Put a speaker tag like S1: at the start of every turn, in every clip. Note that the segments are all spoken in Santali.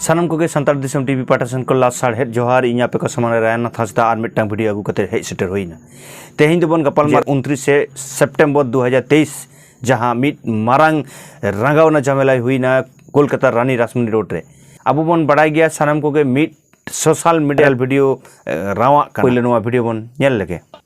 S1: ᱥᱟᱱᱟᱢ ᱠᱚᱜᱮ ᱥᱟᱱᱛᱟᱲ ᱫᱤᱥᱚᱢ ᱴᱤᱵᱷᱤ ᱯᱟᱦᱴᱟ ᱥᱮᱱ ᱠᱷᱚᱱ ᱞᱟᱥ ᱥᱟᱲᱦᱮᱫ ᱡᱚᱦᱟᱨ ᱤᱧ ᱟᱯᱮ ᱠᱚ ᱥᱟᱢᱟᱝ ᱨᱮ ᱨᱟᱭᱱᱟᱛᱷ ᱦᱟᱸᱥᱫᱟ ᱟᱨ ᱢᱤᱫᱴᱟᱝ ᱵᱷᱤᱰᱤᱭᱳ ᱟᱹᱜᱩ ᱠᱟᱛᱮ ᱦᱮᱡ ᱥᱮᱴᱮᱨ ᱦᱩᱭᱱᱟ ᱛᱮᱦᱮᱧ ᱫᱚᱵᱚᱱ ᱜᱟᱯᱟᱞᱢᱟᱨ ᱩᱱᱛᱨᱤᱥᱮ ᱥᱮᱯᱴᱮᱢᱵᱚᱨ ᱫᱩ ᱦᱟᱡᱟᱨ ᱛᱮᱭᱤᱥ ᱡᱟᱦᱟᱸ ᱢᱤᱫ ᱢᱟᱨᱟᱝ ᱨᱟᱸᱜᱟᱣᱱᱟ ᱡᱷᱟᱢᱮᱞᱟᱭ ᱦᱩᱭᱱᱟ ᱠᱳᱞᱠᱟᱛᱟ ᱨᱟᱱᱤ ᱨᱟᱥᱢᱩᱱᱤ ᱨᱳᱰ ᱨᱮ ᱟᱵᱚ ᱵᱚᱱ ᱵᱟᱲᱟᱭ ᱜᱮᱭᱟ ᱥᱟᱱᱟᱢ ᱠᱚᱜᱮ ᱢᱤᱫ ᱥᱳᱥᱟᱞ ᱢᱤᱰᱤᱭᱟᱞ ᱵᱷᱤᱰᱤᱭᱳ ᱨᱟᱣᱟᱜ ᱠᱟᱱᱟ ᱯᱳᱭᱞᱳ ᱱᱚᱣᱟ ᱵᱷᱤᱰᱤᱭᱳ ᱵᱚᱱ ᱧᱮᱞ ᱞᱮᱜᱮ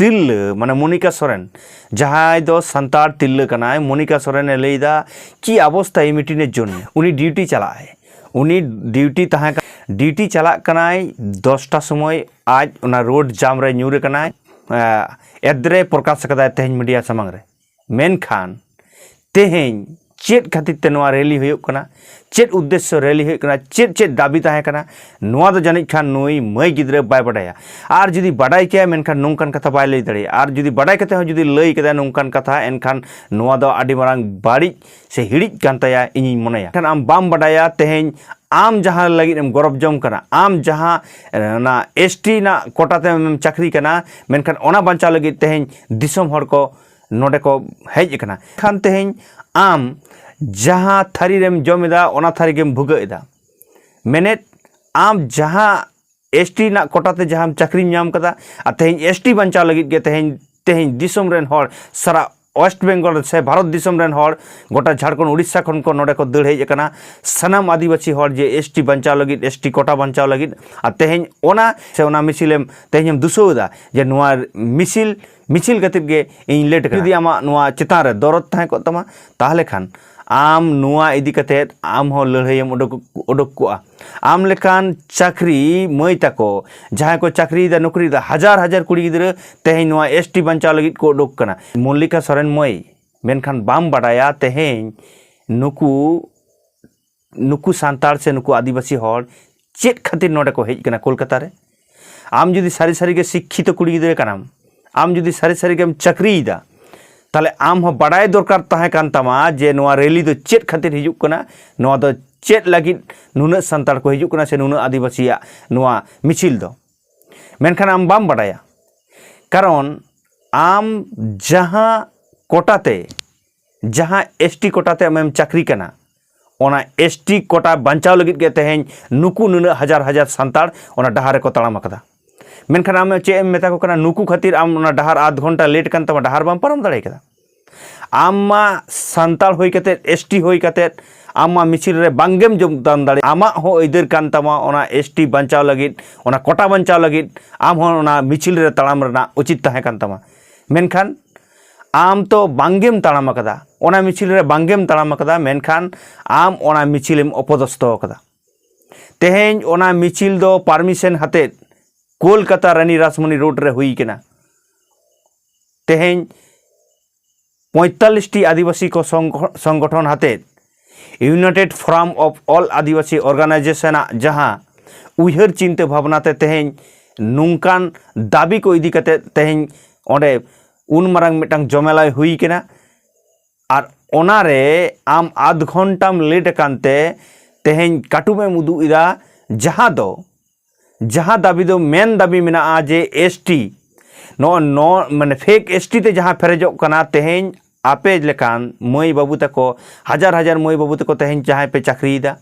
S1: ᱛᱤᱨᱞᱟᱹ ᱢᱟᱱᱮ ᱢᱚᱱᱤᱠᱟ ᱥᱚᱨᱮᱱ ᱡᱟᱦᱟᱸᱭ ᱫᱚ ᱥᱟᱱᱛᱟᱲ ᱛᱤᱨᱞᱟᱹ ᱠᱟᱱᱟᱭ ᱢᱚᱱᱤᱠᱟ ᱥᱚᱨᱮᱱᱮ ᱞᱟᱹᱭᱫᱟ ᱠᱤ ᱚᱵᱚᱥᱛᱟ ᱮ ᱢᱤᱴᱤᱱᱮ ᱡᱚᱱ ᱩᱱᱤ ᱰᱤᱭᱩᱴᱤ ᱪᱟᱞᱟᱜᱼᱟᱭ ᱩᱱᱤ ᱰᱤᱭᱩᱴᱤ ᱛᱟᱦᱮᱸ ᱰᱤᱭᱩᱴᱤ ᱪᱟᱞᱟᱜ ᱠᱟᱱᱟᱭ ᱫᱚᱥᱴᱟ ᱥᱚᱢᱚᱭ ᱟᱡ ᱚᱱᱟ ᱨᱳᱰ ᱡᱟᱢ ᱨᱮ ᱧᱩᱨ ᱠᱟᱱᱟᱭ ᱮᱫᱽᱨᱮ ᱯᱨᱚᱠᱟᱥ ᱠᱟᱫᱟᱭ ᱛᱮᱦᱮᱧ ᱢᱤᱰᱤᱭᱟ ᱥᱟᱢᱟᱝ ᱨᱮ ᱢᱮᱱᱠᱷᱟᱱ ᱛᱮᱦᱮᱧ ᱪᱮᱫ ᱠᱷᱟᱹᱛᱤᱨ ᱛᱮ ᱱᱚᱣᱟ ᱨᱮᱞᱤ ᱦᱩᱭᱩᱜ ᱠᱟᱱᱟ ᱪᱮᱫ ᱩᱫᱽᱫᱮᱥᱥᱚ ᱨᱮᱞᱤ ᱦᱩᱭᱩᱜ ᱠᱟᱱᱟ ᱪᱮᱫ ᱪᱮᱫ ᱫᱟᱹᱵᱤ ᱛᱟᱦᱮᱸ ᱠᱟᱱᱟ ᱱᱚᱣᱟ ᱫᱚ ᱡᱟᱹᱱᱤᱡ ᱠᱷᱟᱱ ᱱᱩᱭ ᱢᱟᱹᱭ ᱜᱤᱫᱽᱨᱟᱹ ᱵᱟᱭ ᱵᱟᱰᱟᱭᱟ ᱟᱨ ᱡᱩᱫᱤ ᱵᱟᱰᱟᱭ ᱠᱮᱭᱟ ᱢᱮᱱᱠᱷᱟᱱ ᱱᱚᱝᱠᱟᱱ ᱠᱟᱛᱷᱟ ᱵᱟᱭ ᱞᱟᱹᱭ ᱫᱟᱲᱮᱭᱟᱜᱼᱟ ᱟᱨ ᱡᱩᱫᱤ ᱵᱟᱰᱟᱭ ᱠᱟᱛᱮ ᱦᱚᱸ ᱡᱩᱫᱤ ᱞᱟᱹᱭ ᱠᱮᱫᱟᱭ ᱱᱚᱝᱠᱟᱱ ᱠᱟᱛᱷᱟ ᱮᱱᱠᱷᱟᱱ ᱱᱚᱣᱟ ᱫᱚ ᱟᱹᱰᱤ ᱢᱟᱨᱟᱝ ᱵᱟᱹᱲᱤᱡ ᱥᱮ ᱦᱤᱲᱤᱡ ᱠᱟᱱ ᱛᱟᱭᱟ ᱤᱧᱤᱧ ᱢᱚᱱᱮᱭᱟ ᱠᱷᱟᱱ ᱟᱢ ᱵᱟᱢ ᱵᱟᱰᱟᱭᱟ ᱛᱮᱦᱮᱧ ᱟᱢ ᱡᱟᱦᱟᱸ ᱞᱟᱹᱜᱤᱫ ᱮᱢ ᱜᱚᱨᱚᱵ ᱡᱚᱝ ᱠᱟᱱᱟ ᱟᱢ ᱡᱟᱦᱟᱸ ᱚᱱᱟ ᱮᱥ ᱴᱤ ᱨᱮᱱᱟᱜ ᱠᱚᱴᱟ ᱛᱮᱢ ᱪᱟᱹᱠᱨᱤ ᱠᱟᱱᱟ ᱢᱮᱱᱠᱷᱟᱱ ᱚᱱᱟ ᱵᱟᱧᱪᱟᱣ ᱞᱟᱹᱜᱤᱫ ᱛᱮᱦᱮᱧ ᱫᱤᱥᱚᱢ ᱦᱚᱲ ᱠᱚ ᱱᱚᱰᱮ ᱠᱚ ᱦᱮᱡ ᱟᱠᱟᱱᱟ ᱠᱷᱟᱱ ᱛᱮᱦᱮᱧ ᱟᱢ ᱡᱟᱦᱟᱸ ᱛᱷᱟᱹᱨᱤ ᱨᱮᱢ ᱡᱚᱢ ᱮᱫᱟ ᱚᱱᱟ ᱛᱷᱟᱹᱨᱤ ᱜᱮᱢ ᱵᱷᱩᱜᱟᱹᱜ ᱮᱫᱟ ᱢᱮᱱᱮᱫ ᱟᱢ ᱡᱟᱦᱟᱸ ᱮᱥ ᱴᱤ ᱨᱮᱱᱟᱜ ᱠᱚᱴᱟ ᱛᱮ ᱡᱟᱦᱟᱸ ᱪᱟᱹᱠᱨᱤᱢ ᱧᱟᱢ ᱠᱟᱫᱟ ᱟᱨ ᱛᱮᱦᱮᱧ ᱮᱥ ᱴᱤ ᱵᱟᱧᱪᱟᱣ ᱞᱟᱹᱜᱤᱫ ᱜᱮ ᱛᱮᱦᱮᱧ ᱛᱮᱦᱮᱧ ᱫᱤᱥᱚᱢ ᱨᱮᱱ ᱦᱚᱲ ᱥᱟᱨᱟ ᱳᱭᱮᱥᱴ ᱵᱮᱝᱜᱚᱞ ᱥᱮ ᱵᱷᱟᱨᱚᱛ ᱫᱤᱥᱚᱢ ᱨᱮᱱ ᱦᱚᱲ ᱜᱚᱴᱟ ᱡᱷᱟᱲᱠᱷᱚᱸᱰ ᱩᱲᱤᱥᱥᱟ ᱠᱷᱚᱱ ᱠᱚ ᱱᱚᱰᱮ ᱠᱚ ᱫᱟᱹᱲ ᱦᱮᱡ ᱟᱠᱟᱱᱟ ᱥᱟᱱᱟᱢ ᱟᱹᱫᱤᱵᱟᱹᱥᱤ ᱦᱚᱲ ᱡᱮ ᱮᱥ ᱴᱤ ᱵᱟᱧᱪᱟᱣ ᱞᱟᱹᱜᱤᱫ ᱮᱥ ᱴᱤ ᱠᱚᱴᱟ ᱵᱟᱧᱪᱟᱣ ᱞᱟᱹᱜᱤᱫ ᱟᱨ ᱛᱮᱦᱮᱧ ᱚᱱᱟ ᱥᱮ ᱚᱱᱟ ᱢᱤᱥᱤᱞᱮᱢ ᱛᱮᱦᱮᱧᱮᱢ ᱫᱩᱥᱟᱹᱣ ᱮᱫᱟ ᱡᱮ ᱱᱚᱣᱟ ᱢᱤᱥᱤᱞ ᱢᱤᱪᱷᱤᱞ ᱠᱟᱛᱮᱫ ᱜᱮ ᱤᱧ ᱞᱮᱴ ᱠᱟᱱᱟ ᱡᱩᱫᱤ ᱟᱢᱟᱜ ᱱᱚᱣᱟ ᱪᱮᱛᱟᱱ ᱨᱮ ᱫᱚᱨᱚᱫ ᱛᱟᱦᱮᱸ ᱠᱚᱜ ᱛᱟᱢᱟ ᱛᱟᱦᱚᱞᱮ ᱠᱷᱟᱱ ᱟᱢ ᱱᱚᱣᱟ ᱤᱫᱤ ᱠᱟᱛᱮᱫ ᱟᱢ ᱦᱚᱸ ᱞᱟᱹᱲᱦᱟᱹᱭᱮᱢ ᱚᱰᱚᱠ ᱚᱰᱚᱠ ᱠᱚᱜᱼᱟ ᱟᱢ ᱞᱮᱠᱟᱱ ᱪᱟᱹᱠᱨᱤ ᱢᱟᱹᱭ ᱛᱟᱠᱚ ᱡᱟᱦᱟᱸᱭ ᱠᱚ ᱪᱟᱹᱠᱨᱤᱭᱮᱫᱟ ᱱᱚᱠᱨᱤᱭᱮᱫᱟ ᱦᱟᱡᱟᱨ ᱦᱟᱡᱟᱨ ᱠᱩᱲᱤ ᱜᱤᱫᱽᱨᱟᱹ ᱛᱮᱦᱮᱧ ᱱᱚᱣᱟ ᱮᱥ ᱴᱤ ᱵᱟᱧᱪᱟᱣ ᱞᱟᱹᱜᱤᱫ ᱠᱚ ᱚᱰᱚᱠ ᱠᱟᱱᱟ ᱢᱚᱞᱞᱤᱠᱟ ᱥᱚᱨᱮᱱ ᱢᱟᱹᱭ ᱢᱮᱱᱠᱷᱟᱱ ᱵᱟᱢ ᱵᱟᱰᱟᱭᱟ ᱛᱮᱦᱮᱧ ᱱᱩᱠᱩ ᱱᱩᱠᱩ ᱥᱟᱱᱛᱟᱲ ᱥᱮ ᱱᱩᱠᱩ ᱟᱹᱫᱤᱵᱟᱹᱥᱤ ᱦᱚᱲ ᱪᱮᱫ ᱠᱷᱟᱹᱛᱤᱨ ᱱᱚᱰᱮ ᱠᱚ ᱦᱮᱡ ᱠᱟᱱᱟ ᱠᱳᱞᱠᱟᱛᱟ ᱨᱮ ᱟᱢ ᱡᱩᱫᱤ ᱥᱟᱹᱨᱤ ᱥᱟᱹᱨᱤᱜᱮ ᱥᱤᱠᱠᱷᱤᱛᱚ ᱠᱩᱲᱤ ᱜᱤᱫᱽᱨᱟᱹ ᱠᱟᱱᱟᱢ ᱟᱢ ᱡᱩᱫᱤ ᱥᱟᱹᱨᱤ ᱥᱟᱹᱨᱤᱜᱮᱢ ᱪᱟᱹᱠᱨᱤᱭᱮᱫᱟ ᱛᱟᱦᱞᱮ ᱟᱢ ᱦᱚᱸ ᱵᱟᱰᱟᱭ ᱫᱚᱨᱠᱟᱨ ᱛᱟᱦᱮᱸ ᱠᱟᱱ ᱛᱟᱢᱟ ᱡᱮ ᱱᱚᱣᱟ ᱨᱮᱞᱤ ᱫᱚ ᱪᱮᱫ ᱠᱷᱟᱹᱛᱤᱨ ᱦᱤᱡᱩᱜ ᱠᱟᱱᱟ ᱱᱚᱣᱟ ᱫᱚ ᱪᱮᱫ ᱞᱟᱹᱜᱤᱫ ᱱᱩᱱᱟᱹᱜ ᱥᱟᱱᱛᱟᱲ ᱠᱚ ᱦᱤᱡᱩᱜ ᱠᱟᱱᱟ ᱥᱮ ᱱᱩᱱᱟᱹᱜ ᱟᱹᱫᱤᱵᱟᱹᱥᱤᱭᱟᱜ ᱱᱚᱣᱟ ᱢᱤᱪᱷᱤᱞ ᱫᱚ ᱢᱮᱱᱠᱷᱟᱱ ᱟᱢ ᱵᱟᱢ ᱵᱟᱰᱟᱭᱟ ᱠᱟᱨᱚᱱ ᱟᱢ ᱡᱟᱦᱟᱸ ᱠᱚᱴᱟᱛᱮ ᱡᱟᱦᱟᱸ ᱮᱥ ᱴᱤ ᱠᱚᱴᱟᱛᱮ ᱟᱢᱮᱢ ᱪᱟᱹᱠᱨᱤ ᱠᱟᱱᱟ ᱚᱱᱟ ᱮᱥ ᱴᱤ ᱠᱚᱴᱟ ᱵᱟᱧᱪᱟᱣ ᱞᱟᱹᱜᱤᱫ ᱜᱮ ᱛᱮᱦᱮᱧ ᱱᱩᱠᱩ ᱱᱩᱱᱟᱹᱜ ᱦᱟᱡᱟᱨ ᱦᱟᱡᱟᱨ ᱥᱟᱱᱛᱟᱲ ᱚᱱᱟ ᱰᱟᱦᱟᱨ ᱨᱮᱠᱚ ᱛᱟᱲᱟᱢ ᱟᱠᱟᱫᱟ ᱢᱮᱱᱠᱷᱟᱱ ᱟᱢ ᱪᱮᱫ ᱮᱢ ᱢᱮᱛᱟ ᱠᱚ ᱠᱟᱱᱟ ᱱᱩᱠᱩ ᱠᱷᱟᱹᱛᱤᱨ ᱟᱢ ᱚᱱᱟ ᱰᱟᱦᱟᱨ ᱟᱫᱷ ᱜᱷᱚᱱᱴᱟ ᱞᱮᱴ ᱠᱟᱱ ᱛᱟᱢᱟ ᱰᱟᱦᱟᱨ ᱵᱟᱢ ᱯᱟᱨᱚᱢ ᱫᱟᱲᱮ ᱠᱟᱫᱟ ᱟᱢ ᱢᱟ ᱥᱟᱱᱛᱟᱲ ᱦᱩᱭ ᱠᱟᱛᱮᱫ ᱮᱥ ᱴᱤ ᱦᱩᱭ ᱠᱟᱛᱮᱫ ᱟᱢ ᱢᱟ ᱢᱤᱪᱷᱤᱞ ᱨᱮ ᱵᱟᱝᱜᱮᱢ ᱡᱳᱜᱽᱫᱟᱱ ᱫᱟᱲᱮ ᱟᱢᱟᱜ ᱦᱚᱸ ᱟᱹᱭᱫᱟᱹᱨ ᱠᱟᱱ ᱛᱟᱢᱟ ᱚᱱᱟ ᱮᱥ ᱴᱤ ᱵᱟᱧᱪᱟᱣ ᱞᱟᱹᱜᱤᱫ ᱚᱱᱟ ᱠᱚᱴᱟ ᱵᱟᱧᱪᱟᱣ ᱞᱟᱹᱜᱤᱫ ᱟᱢ ᱦᱚᱸ ᱚᱱᱟ ᱢᱤᱪᱷᱤᱞ ᱨᱮ ᱛᱟᱲᱟᱢ ᱨᱮᱱᱟᱜ ᱩᱪᱤᱛ ᱛᱟᱦᱮᱸ ᱠᱟᱱ ᱛᱟᱢᱟ ᱢᱮᱱᱠᱷᱟᱱ ᱟᱢ ᱛᱚ ᱵᱟᱝᱜᱮᱢ ᱛᱟᱲᱟᱢ ᱟᱠᱟᱫᱟ ᱚᱱᱟ ᱢᱤᱪᱷᱤᱞ ᱨᱮ ᱵᱟᱝᱜᱮᱢ ᱛᱟᱲᱟᱢ ᱟᱠᱟᱫᱟ ᱢᱮᱱᱠᱷᱟᱱ ᱟᱢ ᱚᱱᱟ ᱢᱤᱪᱷᱤᱞᱮᱢ ᱚᱯᱚᱫᱚᱥᱛᱚ ᱟᱠᱟᱫᱟ ᱛᱮᱦᱮᱧ ᱚᱱᱟ ᱢᱤᱪᱷᱤᱞ ᱫᱚ ᱯᱟᱨᱢᱤᱥᱮᱱ ᱦᱟᱛᱮᱫ ᱠᱳᱞᱠᱟᱛᱟ ᱨᱟᱱᱤ ᱨᱟᱥᱢᱚᱱᱤ ᱨᱳᱰ ᱨᱮ ᱦᱩᱭ ᱠᱟᱱᱟ ᱛᱮᱦᱮᱧ ᱯᱚᱸᱭᱛᱟᱞᱞᱤᱥᱴᱤ ᱟᱹᱫᱤᱵᱟᱹᱥᱤ ᱠᱚ ᱥᱚᱝᱜᱚᱴᱷᱚᱱ ᱦᱟᱛᱮᱫ united forum of all Adivasi organisation ᱟᱜ ᱡᱟᱦᱟᱸ ᱩᱭᱦᱟᱹᱨ ᱪᱤᱱᱛᱟᱹ ᱵᱷᱟᱵᱽᱱᱟ ᱛᱮ ᱛᱮᱦᱮᱧ ᱱᱚᱝᱠᱟᱱ ᱫᱟᱹᱵᱤ ᱠᱚ ᱤᱫᱤ ᱠᱟᱛᱮ ᱛᱮᱦᱮᱧ ᱚᱸᱰᱮ ᱩᱱ ᱢᱟᱨᱟᱝ ᱢᱤᱫᱴᱟᱝ ᱡᱚᱢᱮᱞᱟᱭ ᱦᱩᱭ ᱠᱟᱱᱟ ᱟᱨ ᱚᱱᱟᱨᱮ ᱟᱢ ᱟᱫᱷ ᱜᱷᱚᱱᱴᱟᱢ ᱞᱮᱴ ᱟᱠᱟᱱ ᱛᱮ ᱛᱮᱦᱮᱧ ᱠᱟᱹᱴᱩᱵ ᱮᱢ ᱩᱫᱩᱜ ᱮᱫᱟ ᱡᱟᱦᱟᱸ ᱫᱚ ᱡᱟᱦᱟᱸ ᱫᱟᱹᱵᱤ ᱫᱚ ᱢᱮᱱ ᱫᱟᱹᱵᱤ ᱢᱮᱱᱟᱜᱼᱟ ᱡᱮ ᱮᱥ ᱴᱤ ᱱᱚᱜᱼᱚ ᱱᱚ ᱢᱟᱱᱮ ᱯᱷᱮᱠ ᱮᱥ ᱴᱤ ᱛᱮ ᱡᱟᱦᱟᱸ ᱯᱮᱨᱮᱡᱚᱜ ᱠᱟᱱᱟ ᱛᱮᱦᱮᱧ ᱟᱯᱮ ᱞᱮᱠᱟᱱ ᱢᱟᱹᱭ ᱵᱟᱹᱵᱩ ᱛᱟᱠᱚ ᱦᱟᱡᱟᱨ ᱦᱟᱡᱟᱨ ᱢᱟᱹᱭ ᱵᱟᱹᱵᱩ ᱛᱟᱠᱚ ᱛᱮᱦᱮᱧ ᱡᱟᱦᱟᱸᱭ ᱯᱮ ᱪᱟᱹᱠᱨᱤᱭᱮᱫᱟ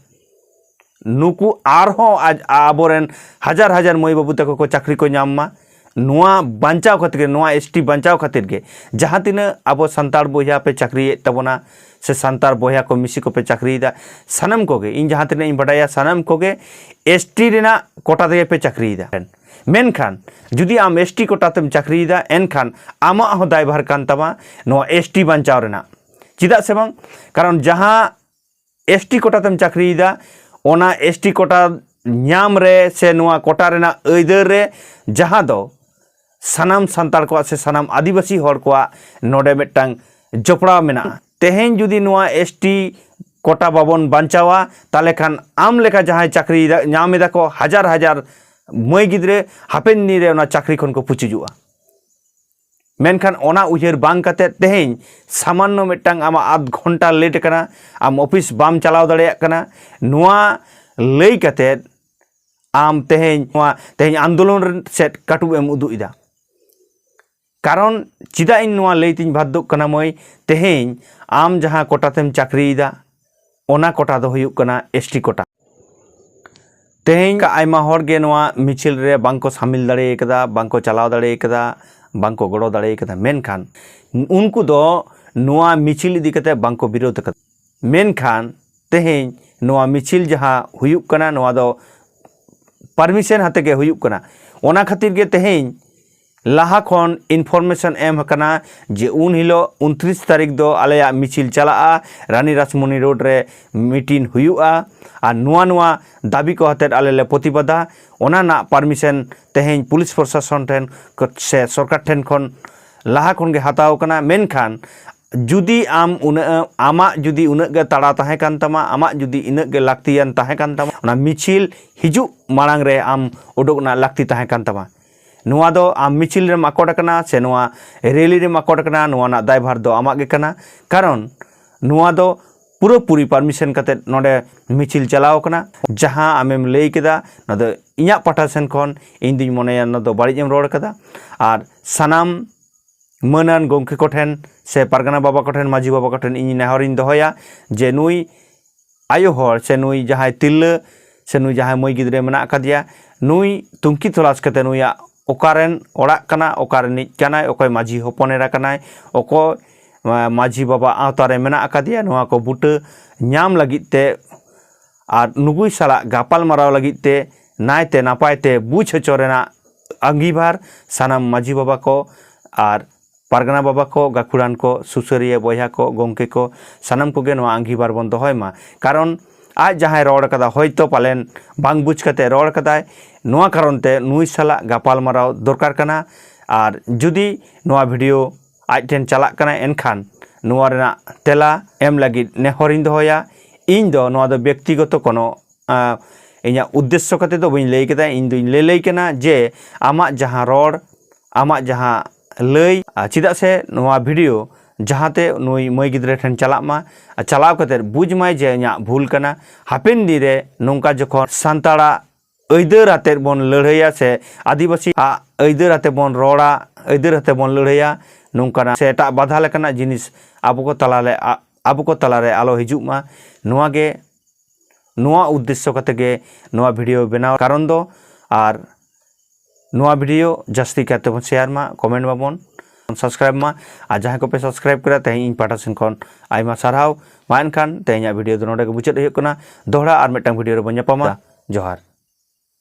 S1: ᱱᱩᱠᱩ ᱟᱨᱦᱚᱸ ᱟᱵᱚᱨᱮᱱ ᱦᱟᱡᱟᱨ ᱦᱟᱡᱟᱨ ᱢᱟᱹᱭ ᱵᱟᱹᱵᱩ ᱛᱟᱠᱚ ᱠᱚ ᱪᱟᱹᱠᱨᱤ ᱠᱚ ᱧᱟᱢ ᱢᱟ ᱱᱚᱣᱟ ᱵᱟᱧᱪᱟᱣ ᱠᱷᱟᱹᱛᱤᱨ ᱜᱮ ᱱᱚᱣᱟ ᱮᱥ ᱴᱤ ᱵᱟᱧᱪᱟᱣ ᱠᱷᱟᱹᱛᱤᱨ ᱜᱮ ᱡᱟᱦᱟᱸ ᱛᱤᱱᱟᱹᱜ ᱟᱵᱚ ᱥᱟᱱᱛᱟᱲ ᱵᱚᱭᱦᱟ ᱯᱮ ᱪᱟᱹᱠᱨᱤᱭᱮᱫ ᱛᱟᱵᱚᱱᱟ ᱥᱮ ᱥᱟᱱᱛᱟᱲ ᱵᱚᱭᱦᱟ ᱠᱚ ᱢᱤᱥᱤ ᱠᱚᱯᱮ ᱪᱟᱹᱠᱨᱤᱭᱮᱫᱟ ᱥᱟᱱᱟᱢ ᱠᱚᱜᱮ ᱤᱧ ᱡᱟᱦᱟᱸ ᱛᱤᱱᱟᱹᱜ ᱤᱧ ᱵᱟᱰᱟᱭᱟ ᱥᱟᱱᱟᱢ ᱠᱚᱜᱮ ᱮᱥ ᱴᱤ ᱨᱮᱱᱟᱜ ᱠᱚᱴᱟ ᱛᱮᱜᱮ ᱯᱮ ᱪᱟᱹᱠᱨᱤᱭᱮᱫᱟ ᱢᱮᱱᱠᱷᱟᱱ ᱡᱩᱫᱤ ᱟᱢ ᱮᱥ ᱴᱤ ᱠᱚᱴᱟ ᱛᱮᱢ ᱪᱟᱹᱠᱨᱤᱭᱮᱫᱟ ᱮᱱᱠᱷᱟᱱ ᱟᱢᱟᱜ ᱦᱚᱸ ᱫᱟᱭᱵᱷᱟᱨ ᱠᱟᱱ ᱛᱟᱢᱟ ᱱᱚᱣᱟ ᱮᱥ ᱴᱤ ᱵᱟᱧᱪᱟᱣ ᱨᱮᱱᱟᱜ ᱪᱮᱫᱟᱜ ᱥᱮ ᱵᱟᱝ ᱠᱟᱨᱚᱱ ᱡᱟᱦᱟᱸ ᱮᱥ ᱴᱤ ᱠᱳᱴᱟᱛᱮᱢ ᱪᱟᱹᱠᱨᱤᱭᱮᱫᱟ ᱚᱱᱟ ᱮᱥ ᱴᱤ ᱠᱳᱴᱟ ᱧᱟᱢ ᱨᱮ ᱥᱮ ᱱᱚᱣᱟ ᱠᱳᱴᱟ ᱨᱮᱱᱟᱜ ᱟᱹᱭᱫᱟᱹᱨ ᱨᱮ ᱡᱟᱦᱟᱸ ᱫᱚ ᱥᱟᱱᱟᱢ ᱥᱟᱱᱛᱟᱲ ᱠᱚᱣᱟᱜ ᱥᱮ ᱥᱟᱱᱟᱢ ᱟᱹᱫᱤᱵᱟᱹᱥᱤ ᱦᱚᱲ ᱠᱚᱣᱟᱜ ᱱᱚᱰᱮ ᱢᱤᱫᱴᱟᱝ ᱡᱚᱯᱲᱟᱣ ᱢᱮᱱᱟᱜᱼᱟ ᱛᱮᱦᱮᱧ ᱡᱩᱫᱤ ᱱᱚᱣᱟ ᱮᱥ ᱴᱤ ᱠᱳᱴᱟ ᱵᱟᱵᱚᱱ ᱵᱟᱧᱪᱟᱣᱟ ᱛᱟᱦᱚᱞᱮ ᱠᱷᱟᱱ ᱟᱢ ᱞᱮᱠᱟ ᱡᱟᱦᱟᱸᱭ ᱪᱟᱹᱠᱨᱤ ᱧᱟᱢ ᱮᱫᱟ ᱠᱚ ᱦᱟᱡᱟᱨ ᱦᱟᱡᱟᱨ ᱢᱟᱹᱭ ᱜᱤᱫᱽᱨᱟᱹ ᱦᱟᱯᱮᱱ ᱫᱤᱱ ᱨᱮ ᱚᱱᱟ ᱪᱟᱹᱠᱨᱤ ᱠᱷᱚᱱ ᱠᱚ ᱯᱩᱪᱩᱡᱚᱜᱼᱟ ᱢᱮᱱᱠᱷᱟᱱ ᱚᱱᱟ ᱩᱭᱦᱟᱹᱨ ᱵᱟᱝ ᱠᱟᱛᱮ ᱛᱮᱦᱮᱧ ᱥᱟᱢᱟᱱᱱᱚ ᱢᱤᱫᱴᱟᱝ ᱟᱢᱟᱜ ᱟᱫᱷ ᱜᱷᱚᱱᱴᱟ ᱞᱮᱴ ᱠᱟᱱᱟ ᱟᱢ ᱚᱯᱷᱤᱥ ᱵᱟᱢ ᱪᱟᱞᱟᱣ ᱫᱟᱲᱮᱭᱟᱜ ᱠᱟᱱᱟ ᱱᱚᱣᱟ ᱞᱟᱹᱭ ᱠᱟᱛᱮ ᱟᱢ ᱛᱮᱦᱮᱧ ᱱᱚᱣᱟ ᱛᱮᱦᱮᱧ ᱟᱱᱫᱳᱞᱚᱱ ᱥᱮᱫ ᱠᱟᱹᱴᱩᱵ ᱮᱢ ᱩᱫᱩᱜ ᱮᱫᱟ ᱠᱟᱨᱚᱱ ᱪᱮᱫᱟᱜ ᱤᱧ ᱱᱚᱣᱟ ᱞᱟᱹᱭ ᱛᱤᱧ ᱵᱟᱫᱽᱫᱷᱚᱜ ᱠᱟᱱᱟ ᱢᱟᱹᱭ ᱛᱮᱦᱮᱧ ᱟᱢ ᱡᱟᱦᱟᱸ ᱠᱚᱴᱟᱛᱮᱢ ᱪᱟᱹᱠᱨᱤᱭᱮᱫᱟ ᱚᱱᱟ ᱠᱚᱴᱟ ᱫᱚ ᱦᱩᱭᱩᱜ ᱠᱟᱱᱟ ᱮᱥ ᱴᱤ ᱠᱚᱴᱟ ᱛᱮᱦᱮᱧ ᱟᱭᱢᱟ ᱦᱚᱲ ᱜᱮ ᱱᱚᱣᱟ ᱢᱤᱪᱷᱤᱞ ᱨᱮ ᱵᱟᱝᱠᱚ ᱥᱟᱢᱤᱞ ᱫᱟᱲᱮ ᱠᱟᱫᱟ ᱵᱟᱝᱠᱚ ᱪᱟᱞᱟᱣ ᱫᱟᱲᱮ ᱠᱟᱫᱟ ᱵᱟᱝᱠᱚ ᱜᱚᱲᱚ ᱫᱟᱲᱮ ᱠᱟᱫᱟ ᱢᱮᱱᱠᱷᱟᱱ ᱩᱱᱠᱩ ᱫᱚ ᱱᱚᱣᱟ ᱢᱤᱪᱷᱤᱞ ᱤᱫᱤ ᱠᱟᱛᱮ ᱵᱟᱝᱠᱚ ᱵᱤᱨᱳᱫ ᱠᱟᱫᱟ ᱢᱮᱱᱠᱷᱟᱱ ᱛᱮᱦᱮᱧ ᱱᱚᱣᱟ ᱢᱤᱪᱷᱤᱞ ᱡᱟᱦᱟᱸ ᱦᱩᱭᱩᱜ ᱠᱟᱱᱟ ᱱᱚᱣᱟ ᱫᱚ ᱯᱟᱨᱢᱤᱥᱮᱱ ᱦᱟᱛᱮ ᱜᱮ ᱦᱩᱭᱩᱜ ᱠᱟᱱᱟ ᱚᱱᱟ ᱠᱷᱟᱹᱛᱤᱨ ᱜᱮ ᱛᱮᱦᱮᱧ ᱞᱟᱦᱟ ᱠᱷᱚᱱ ᱤᱱᱯᱷᱚᱨᱢᱮᱥᱚᱱ ᱮᱢ ᱟᱠᱟᱱᱟ ᱡᱮ ᱩᱱ ᱦᱤᱞᱳᱜ ᱩᱱᱛᱨᱤᱥ ᱛᱟᱹᱨᱤᱠᱷ ᱫᱚ ᱟᱞᱮᱭᱟᱜ ᱢᱤᱪᱷᱤᱞ ᱪᱟᱞᱟᱜᱼᱟ ᱨᱟᱱᱤ ᱨᱟᱥᱢᱚᱱᱤ ᱨᱳᱰ ᱨᱮ ᱢᱤᱴᱤᱱ ᱦᱩᱭᱩᱜᱼᱟ ᱟᱨ ᱱᱚᱣᱟ ᱱᱚᱣᱟ ᱫᱟᱹᱵᱤ ᱠᱚ ᱟᱛᱮᱫ ᱟᱞᱮ ᱞᱮ ᱯᱨᱚᱛᱤᱵᱟᱫᱟ ᱚᱱᱟ ᱨᱮᱱᱟᱜ ᱯᱟᱨᱢᱤᱥᱮᱱ ᱛᱮᱦᱮᱧ ᱯᱩᱞᱤᱥ ᱯᱨᱚᱥᱟᱥᱚᱱ ᱴᱷᱮᱱ ᱥᱮ ᱥᱚᱨᱠᱟᱨ ᱴᱷᱮᱱ ᱠᱷᱚᱱ ᱞᱟᱦᱟ ᱠᱷᱚᱱ ᱜᱮ ᱦᱟᱛᱟᱣ ᱠᱟᱱᱟ ᱢᱮᱱᱠᱷᱟᱱ ᱡᱩᱫᱤ ᱟᱢ ᱩᱱᱟᱹᱜ ᱟᱢᱟᱜ ᱡᱩᱫᱤ ᱩᱱᱟᱹᱜ ᱜᱮ ᱛᱟᱲᱟ ᱛᱟᱦᱮᱸ ᱠᱟᱱ ᱛᱟᱢᱟ ᱟᱢᱟᱜ ᱡᱩᱫᱤ ᱤᱱᱟᱹᱜ ᱜᱮ ᱞᱟᱹᱠᱛᱤᱭᱟᱱ ᱛᱟᱦᱮᱸ ᱠᱟᱱ ᱛᱟᱢᱟ ᱚᱱᱟ ᱢᱤᱪᱷᱤᱞ ᱦᱤᱡᱩᱜ ᱢᱟᱲᱟᱝ ᱨᱮ ᱟᱢ ᱩᱰᱩᱠ ᱨᱮᱱᱟᱜ ᱞᱟᱹᱠᱛᱤ ᱛᱟᱦᱮᱸ ᱠᱟᱱ ᱛᱟᱢᱟ ᱱᱚᱣᱟ ᱫᱚ ᱟᱢ ᱢᱤᱪᱷᱤᱞ ᱨᱮᱢ ᱟᱠᱚᱴ ᱟᱠᱟᱱᱟ ᱥᱮ ᱱᱚᱣᱟ ᱨᱮᱞᱤ ᱨᱮᱢ ᱟᱠᱚᱴ ᱟᱠᱟᱱᱟ ᱱᱚᱣᱟ ᱨᱮᱱᱟᱜ ᱫᱟᱭᱵᱷᱟᱨ ᱫᱚ ᱟᱢᱟᱜ ᱜᱮ ᱠᱟᱱᱟ ᱠᱟᱨᱚᱱ ᱱᱚᱣᱟ ᱫᱚ ᱯᱩᱨᱟᱹᱯᱩᱨᱤ ᱯᱟᱨᱢᱤᱥᱚᱱ ᱠᱟᱛᱮ ᱱᱚᱰᱮ ᱢᱤᱪᱷᱤᱞ ᱪᱟᱞᱟᱣ ᱟᱠᱟᱱᱟ ᱡᱟᱦᱟᱸ ᱟᱢᱮᱢ ᱞᱟᱹᱭ ᱠᱮᱫᱟ ᱱᱚᱣᱟ ᱫᱚ ᱤᱧᱟᱹᱜ ᱯᱟᱦᱴᱟ ᱥᱮᱱ ᱠᱷᱚᱱ ᱤᱧ ᱫᱩᱧ ᱢᱚᱱᱮᱭᱟ ᱱᱚᱣᱟ ᱫᱚ ᱵᱟᱹᱲᱤᱡ ᱮᱢ ᱨᱚᱲ ᱠᱟᱫᱟ ᱟᱨ ᱥᱟᱱᱟᱢ ᱢᱟᱹᱱᱟᱱ ᱜᱚᱢᱠᱮ ᱠᱚᱴᱷᱮᱱ ᱥᱮ ᱯᱟᱨᱜᱟᱱᱟ ᱵᱟᱵᱟ ᱠᱚᱴᱷᱮᱱ ᱢᱟᱹᱡᱷᱤ ᱵᱟᱵᱟ ᱠᱚᱴᱷᱮᱱ ᱤᱧ ᱱᱮᱦᱚᱨᱤᱧ ᱫᱚᱦᱚᱭᱟ ᱡᱮ ᱱᱩᱭ ᱟᱭᱳ ᱦᱚᱲ ᱥᱮ ᱱᱩᱭ ᱡᱟᱦᱟᱸᱭ ᱛᱤᱨᱞᱟᱹ ᱥᱮ ᱱᱩᱭ ᱡᱟᱦᱟᱸᱭ ᱢᱟᱹᱭ ᱜᱤᱫᱽᱨᱟᱹ ᱢᱮᱱᱟᱜ ᱟᱠᱟᱫᱮᱭᱟ ᱱᱩᱭ ᱛᱩᱝᱠᱤ ᱛᱚᱞᱟᱥ ᱠᱟᱛᱮ ᱱᱩᱭᱟᱜ ᱚᱠᱟᱨᱮᱱ ᱚᱲᱟᱜ ᱠᱟᱱᱟ ᱚᱠᱟ ᱨᱤᱱᱤᱡ ᱠᱟᱱᱟᱭ ᱚᱠᱚᱭ ᱢᱟᱹᱡᱷᱤ ᱦᱚᱯᱚᱱ ᱮᱨᱟ ᱠᱟᱱᱟᱭ ᱚᱠᱚᱭ ᱢᱟᱹᱡᱷᱤ ᱵᱟᱵᱟ ᱟᱶᱛᱟ ᱨᱮ ᱢᱮᱱᱟᱜ ᱟᱠᱟᱫᱮᱭᱟ ᱱᱚᱣᱟ ᱠᱚ ᱵᱩᱴᱟᱹ ᱧᱟᱢ ᱞᱟᱹᱜᱤᱫ ᱛᱮ ᱟᱨ ᱱᱩᱜᱩᱭ ᱥᱟᱞᱟᱜ ᱜᱟᱯᱟᱞ ᱢᱟᱨᱟᱣ ᱞᱟᱹᱜᱤᱫ ᱛᱮ ᱱᱟᱭᱛᱮ ᱱᱟᱯᱟᱭ ᱛᱮ ᱵᱩᱡᱽ ᱦᱚᱪᱚ ᱨᱮᱱᱟᱜ ᱟᱺᱜᱤᱵᱷᱟᱨ ᱥᱟᱱᱟᱢ ᱢᱟᱹᱡᱷᱤ ᱵᱟᱵᱟ ᱠᱚ ᱟᱨ ᱯᱟᱨᱜᱟᱱᱟ ᱵᱟᱵᱟ ᱠᱚ, ᱜᱟᱹᱠᱷᱩᱲᱟᱱ ᱠᱚ, ᱥᱩᱥᱟᱹᱨᱤᱭᱟᱹ ᱵᱚᱭᱦᱟ ᱠᱚ, ᱜᱚᱢᱠᱮ ᱠᱚ ᱥᱟᱱᱟᱢ ᱠᱚᱜᱮ ᱱᱚᱣᱟ ᱟᱺᱜᱷᱤᱵᱷᱟᱨ ᱵᱚᱱ ᱫᱚᱦᱚᱭ ᱢᱟ᱾ ᱠᱟᱨᱚᱱ ᱟᱡ ᱡᱟᱦᱟᱸᱭ ᱨᱚᱲ ᱟᱠᱟᱫᱟ ᱦᱚᱭᱛᱚ ᱯᱟᱞᱮᱱ ᱵᱟᱝ ᱵᱩᱡᱽ ᱠᱟᱛᱮ ᱨᱚᱲ ᱟᱠᱟᱫᱟᱭ ᱱᱚᱣᱟ ᱠᱟᱨᱚᱱ ᱛᱮ ᱱᱩᱭ ᱥᱟᱞᱟᱜ ᱜᱟᱯᱟᱞᱢᱟᱨᱟᱣ ᱫᱚᱨᱠᱟᱨ ᱠᱟᱱᱟ ᱟᱨ ᱡᱩᱫᱤ ᱱᱚᱣᱟ ᱵᱷᱤᱰᱤᱭᱳ ᱟᱡ ᱴᱷᱮᱱ ᱪᱟᱞᱟᱜ ᱠᱟᱱᱟ ᱮᱱᱠᱷᱟᱱ ᱱᱚᱣᱟ ᱨᱮᱱᱟᱜ ᱛᱮᱞᱟ ᱮᱢ ᱞᱟᱹᱜᱤᱫ ᱱᱮᱦᱚᱨ ᱤᱧ ᱫᱚᱦᱚᱭᱟ᱾ ᱤᱧ ᱫᱚ ᱱᱚᱣᱟ ᱫᱚ ᱵᱮᱠᱛᱤᱜᱚᱛᱚ ᱠᱚᱱᱚ ᱤᱧᱟᱹᱜ ᱩᱫᱽᱫᱮᱥᱥᱚ ᱠᱟᱛᱮ ᱫᱚ ᱵᱟᱹᱧ ᱞᱟᱹᱭ ᱠᱮᱫᱟ ᱤᱧ ᱫᱩᱧ ᱞᱟᱹᱭ ᱞᱟᱹᱭ ᱠᱟᱱᱟ ᱡᱮ ᱟᱢᱟᱜ ᱡᱟᱦᱟᱸ ᱨᱚᱲ ᱟᱢᱟᱜ ᱡᱟᱦᱟᱸ ᱞᱟᱹᱭ ᱪᱮᱫᱟᱜ ᱥᱮ ᱱᱚᱣᱟ ᱵᱷᱤᱰᱤᱭᱳ ᱡᱟᱦᱟᱸᱛᱮ ᱱᱩᱭ ᱢᱟᱹᱭ ᱜᱤᱫᱽᱨᱟᱹ ᱴᱷᱮᱱ ᱪᱟᱞᱟᱜ ᱢᱟ ᱟᱨ ᱪᱟᱞᱟᱣ ᱠᱟᱛᱮ ᱵᱩᱡᱽ ᱢᱟᱭ ᱡᱮ ᱤᱧᱟᱹᱜ ᱵᱷᱩᱞ ᱠᱟᱱᱟ ᱦᱟᱯᱮᱱ ᱫᱤᱱ ᱨᱮ ᱱᱚᱝᱠᱟ ᱡᱚᱠᱷᱚᱱ ᱥᱟᱱᱛᱟᱲᱟᱜ ᱟᱹᱭᱫᱟᱹᱨ ᱟᱛᱮᱫ ᱵᱚᱱ ᱞᱟᱹᱲᱦᱟᱹᱭᱟ ᱥᱮ ᱟᱹᱫᱤᱵᱟᱹᱥᱤ ᱟᱜ ᱟᱹᱭᱫᱟᱹᱨ ᱟᱛᱮᱫ ᱵᱚᱱ ᱨᱚᱲᱟ ᱟᱹᱭᱫᱟᱹᱨ ᱟᱛᱮᱫ ᱵᱚᱱ ᱞᱟᱹᱲᱦᱟᱹᱭᱟ ᱱᱚᱝᱠᱟᱱᱟᱜ ᱥᱮ ᱮᱴᱟᱜ ᱵᱟᱫᱷᱟ ᱞᱮᱠᱟᱱᱟᱜ ᱡᱤᱱᱤᱥ ᱟᱵᱚ ᱠᱚ ᱛᱟᱞᱟᱨᱮ ᱟᱵᱚ ᱠᱚ ᱛᱟᱞᱟᱨᱮ ᱟᱞᱚ ᱦᱤᱡᱩᱜ ᱢᱟ ᱱᱚᱣᱟ ᱜᱮ ᱱᱚᱣᱟ ᱩᱫᱽᱫᱮᱥᱥᱚ ᱠᱟᱛᱮ ᱜᱮ ᱱᱚᱣᱟ ᱵᱷᱤᱰᱤᱭᱳ ᱵᱮᱱᱟᱣ ᱠᱟᱨᱚᱱ ᱫᱚ ᱟᱨ ᱱᱚᱣᱟ ᱵᱷᱤᱰᱤᱭᱳ ᱡᱟᱹᱥᱛᱤ ᱠᱟᱭᱛᱮ ᱵᱚᱱ ᱥᱮᱭᱟᱨ ᱢᱟ ᱠᱚᱢᱮᱱᱴ ᱢᱟᱵᱚᱱ ᱥᱟᱵᱥᱠᱨᱟᱭᱤᱵ ᱢᱟ ᱟᱨ ᱡᱟᱦᱟᱸᱭ ᱠᱚᱯᱮ ᱥᱟᱵᱥᱠᱨᱟᱭᱤᱵ ᱠᱮᱫᱟ ᱛᱮᱦᱮᱧ ᱤᱧ ᱯᱟᱦᱴᱟ ᱥᱮᱱ ᱠᱷᱚᱱ ᱟᱭᱢᱟ ᱥᱟᱨᱦᱟᱣ ᱢᱟ ᱮᱱᱠᱷᱟᱱ ᱛᱮᱦᱮᱧᱟᱜ ᱵᱷᱤᱰᱤᱭᱳ ᱫᱚ ᱱᱚᱰᱮ ᱜᱮ ᱢᱩᱪᱟᱹᱫ ᱦᱩᱭᱩᱜ ᱠᱟᱱᱟ ᱫᱚᱦᱲᱟ ᱟᱨ ᱢᱤᱫᱴᱟᱝ ᱵᱷᱤᱰᱤᱭᱳ ᱨᱮᱵᱚᱱ ᱧᱟᱯᱟᱢᱟ ᱡᱚᱦᱟᱨ